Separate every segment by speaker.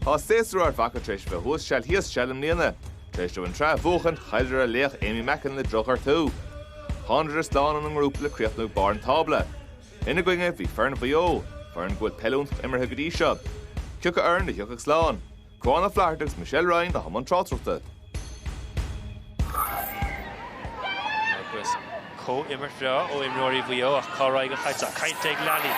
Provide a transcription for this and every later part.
Speaker 1: Tá séasúr Ard Mhacha tar éis bheith thuas seal thíos seal i mbliana. Tar éis dóibh an tsraith a bhuachaint, chailleadar a laoch Aimee Mackin le drochghortú. Thánadar slán óna ngrúpa le críochnú ag barr an tábla. Ina gcoinne, bhí foireann Mhaigh Eo, foireann go bhfuil peil iontach imeartha go dtí seo. Cioca foireann a thiocfadh slán? Cuán Ó Flatharta agus Michelle Ryan i mbun tráchtaireachta.
Speaker 2: Agus comhimirt bhreá ó imreoirí Mhaigh Eo ach cá raghaidh an chaid? Caillte ag Lally,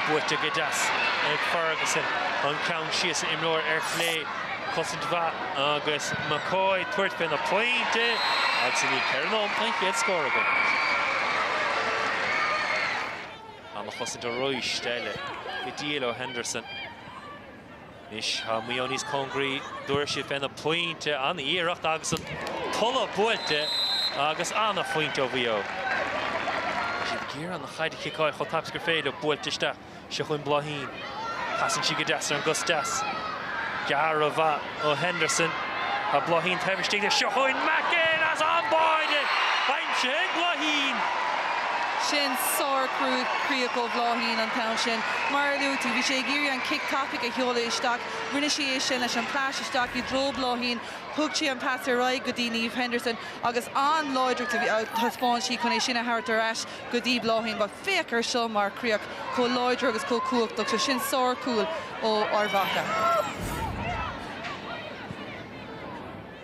Speaker 2: buaite go deas ag Ferguson. Ag ceann síos an imreoir ar chlé, cosaint mhaith agus McCoy ag tabhairt fén bpointe agus i ndiaidh ceithre nóiméad tá an chéad scór againn. Ana-chosaint arís eile go diail ó Henderson. Anois tá Maigh Eo níos cóngaraí tabharfaidh siad fén bpointe. An-iarracht agus an t-urchar buailte agus an-phointe ó Mhaigh Eo. Tá siad ag iarraidh an chaid a chiceáil chomh tapaidh agus gur féidir. Buailte isteach seo chugainn Bláithín. Casann sí go deas ar an gcos deas. Go ra-mhaith. ó Henderson. Tá Bláithín taobh istigh seo chugainn McCoy ar an mbáide! Báide ag
Speaker 3: Bláithín! Sin sár-chríoch ó Bhláithín an t-am sin. Mar a luaigh tú, bhí sí ag iarraidh an cic tapaidh a sheoladh isteach. Rinne sí é sin leis an pas isteach i dtreo Bhláithín. Thug sí an pas ar aghaidh go dtí Niamh Henderson agus an-láidreacht a thaispeáin sí chun é sin a thabhairt ar ais go dtí Bláithín. Féach air seo mar chríoch chomh láidir agus chomh cumhachtach, so sin sárchúl ó Ard
Speaker 2: Mhacha.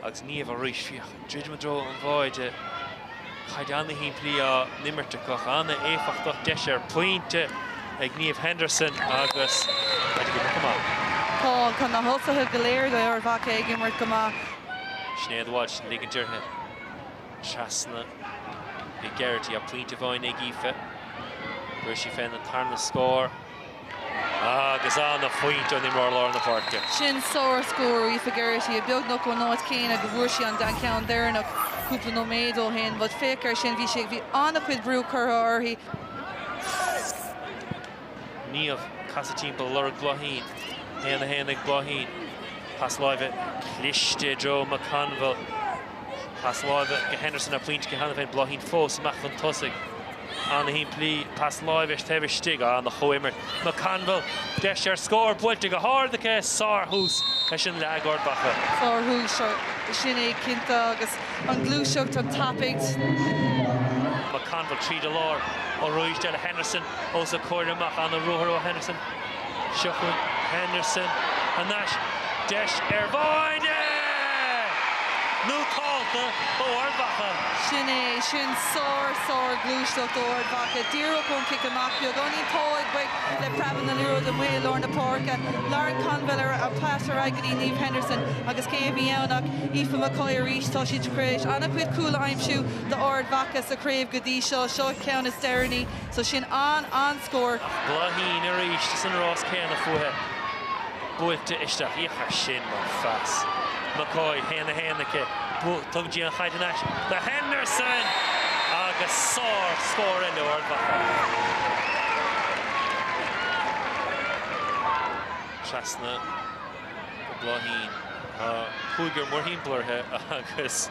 Speaker 2: Agus Niamh arís, féach, ag druidim i dtreo an bháide, caid ana-shimplí á n-imirt acu, ach ana-éifeachtach. Deis ar phointe ag Niamh Henderson agus caite go maith. Tá na
Speaker 3: tosaithe go léir d'Ard Mhacha ag imirt go maith. Sinéad Walsh
Speaker 2: ag ligint uirthi. trasna go dtí Geraghty ach pointe amháin ag Aoife. Fuair sí féin an tarna scór agus an-phointe ón imreoir lár na páirce. Sin
Speaker 3: sárscór ó Aoife Geraghty, é beagnach ón áit chéanna go bhfuair sí an ceann deireanach cúpla nóiméad ó shin. Bhuel, féach air sin, bhí sí ag, bhí an-chuid brú curtha uirthi.
Speaker 2: Niamh, ag casadh timpeall ag lorg Bláithín. 1, 1, Ag Bláithín. Pas láimhe cliste i dtreo McConville. Pas láimhe go Henderson a bhfuil pointe cheana féin. Bláithín fós amach chun tosaigh. Ana shimplí. Pas láimhe taobh istigh. Ana-chomhimirt. McConville, deis ar scór buailte go hard aici. Sárthús leis an leath ag Ard Mhacha.
Speaker 3: Sárthús sin é cinnte agus an gluaiseacht, an
Speaker 2: tapúlacht. McConville tríd an lár. Ó Ruairc, deir le Henderson. os a comhair amach. An-ruathar ó Henderson. Seo chugainn Henderson anois. Deis ar bháide! Nótálta ó Ard Mhacha. Sin é.
Speaker 3: Sin sár, sár ghluaisteacht ó Ard Mhacha. Díreach ón chic amach. Beagáinín togha ag Brick le preabadh na liathróide amuigh i lár na páirce. Lauren McConville ar a pas ar aghaidh go dtí Niamh Henderson agus cé a bhí ann ach Aoife McCoy arís. Tá siad tar éis an-chuid cúl a aimsiú do Ard Mhacha sa chraobh go dtí seo. Seo a ceann is deireanaí. So sin an an scór. Ach Bláithín
Speaker 2: arís is an rás céanna fúithe. Buailte isteach. Féach air sin mar phas. McCoy haon a haon aici. Tug di an chaid anois do Henderson! Agus sár scór eile ó Ard Mhacha. Trasna. Bláithín. Tá cúigear mórthimpeall uirthi agus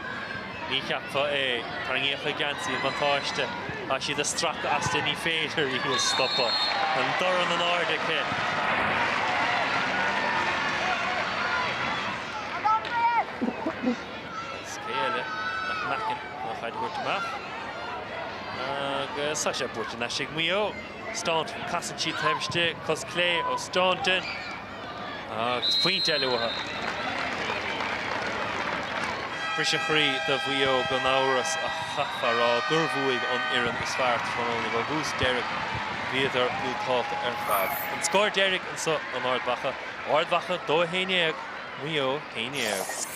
Speaker 2: ní cheapfá é. Tarraingíodh a geansaí, an buntáiste. Tá siad ag stracadh as di, ní féidir í a stopadh. An dorn in airde aici. An scéal eile ag Mackin an chaid a thabhairt amach. Agus tá sé buaite thar n-ais ag Maigh Eo. Staunton. Casann sí an taobh istigh. Cos chlé ó Staunton. Agus pointe eile uaithi. Briseadh croí do Mhaigh Eo gan amhras ach chaithfeá a rá gur bhuaigh an fhoireann is fearr tráthnóna. Ó thús deireadh bhíodar nótálta ar fad. An scór deiridh anseo in Ard Mhacha, Ard Mhacha 2 11 Maigh Eo 11.